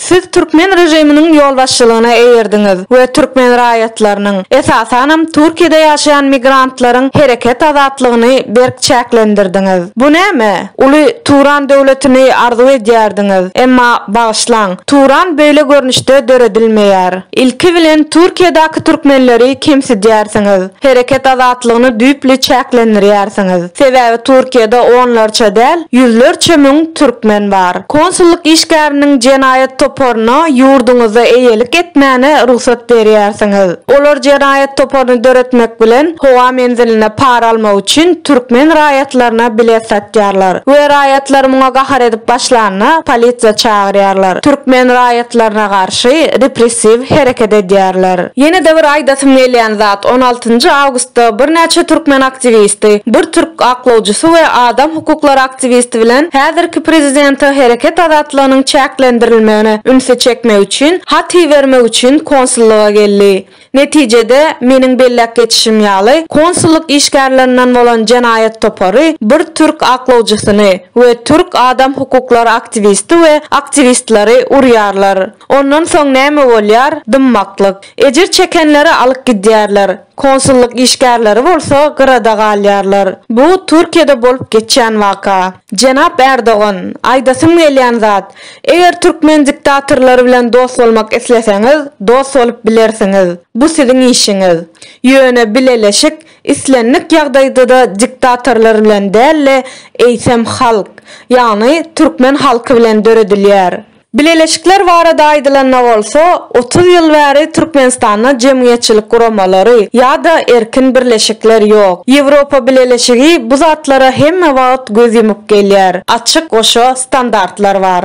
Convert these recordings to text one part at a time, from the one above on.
Siz türkmen režiminiň ýolbaşçylygyna eýerdiňiz we türkmen raýatlarynyň, esasanam Türkiýede ýaşaýan migrantlaryň hereket azatlygyny berk çäklendirdiňiz. Bu näme? Uly Turan döwletini arzuw edýärdiňiz, emma bagyşlaň, Turan beýle görnüşde döredilmeýär. Ilki bilen Türkiýedäki türkmenleri kemsidýärsiňiz. Hereket azatlygyny düýpli çäklendirýärsiňiz. Sebäbi Türkiýede onlarça däl, ýüzlerçe müň türkmen bar. Konsullyk işgäriniň jenaýat toparyna ýurduňyzda eýelik etmäne rugsat berýärsiňiz. Olar jenaýat toparyny döretmek bilen howa menziline para almak üçin türkmen raýatlaryna bilet satýarlar we raýatlar muňa gahar edip başlanda polisiýa çagyrýarlar. Türkmen raýatlaryna garşy. garşy repressiw hereket edýärler. Ýene-de bir aýdasym gelýän zat, on altynjy awgustda birnäçe türkmen aktiwisti, bir türk aklawjysy we adam hukuklary aktiwisti bilen häzirki prezidente hereket azatlygynyň çäklendirilmegine ünsi çekmek üçin hat ibermek üçin konsullyga geldi. Netijede, meniň belläp geçişim ýaly, konsullyk işgärlerinden bolan jenaýat topary bir türk aklawjysyny we türk adam hukuklary aktiwisti we aktiwistleri urýarlar. Ondan soň näme bolýar? Dymmaklyk. Ejir çekenleri alyp gidýärler, konsullyk işgärleri bolsa gyrada galýarlar. Bu Türkiýede bolup geçýän waka. Jenap Erdogan, aýdasym gelýän zat, eger türkmen diktatorlary bilen dost bolmak isleseňiz, dost bolup bilersiňiz. Bu siziň işiňiz. Ýöne bileleşik islendik ýagdaýda-da diktatorlar bilen däl-de, eýsem halk, ýagny türkmen halky bilen döredilýär. Bileleşikler barada aýdylanda bolsa, otuz ýyl bäri Türkmenistanda jemgyýetçilik guramalary ýa-da erkin birleşikler ýok. Ýewropa Bileleşigi bu zatlara hemme wagt göz ýumup gelýär. Açyk goşa standartlar bar.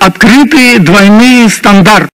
Otkrytyý dwoýnyý standart.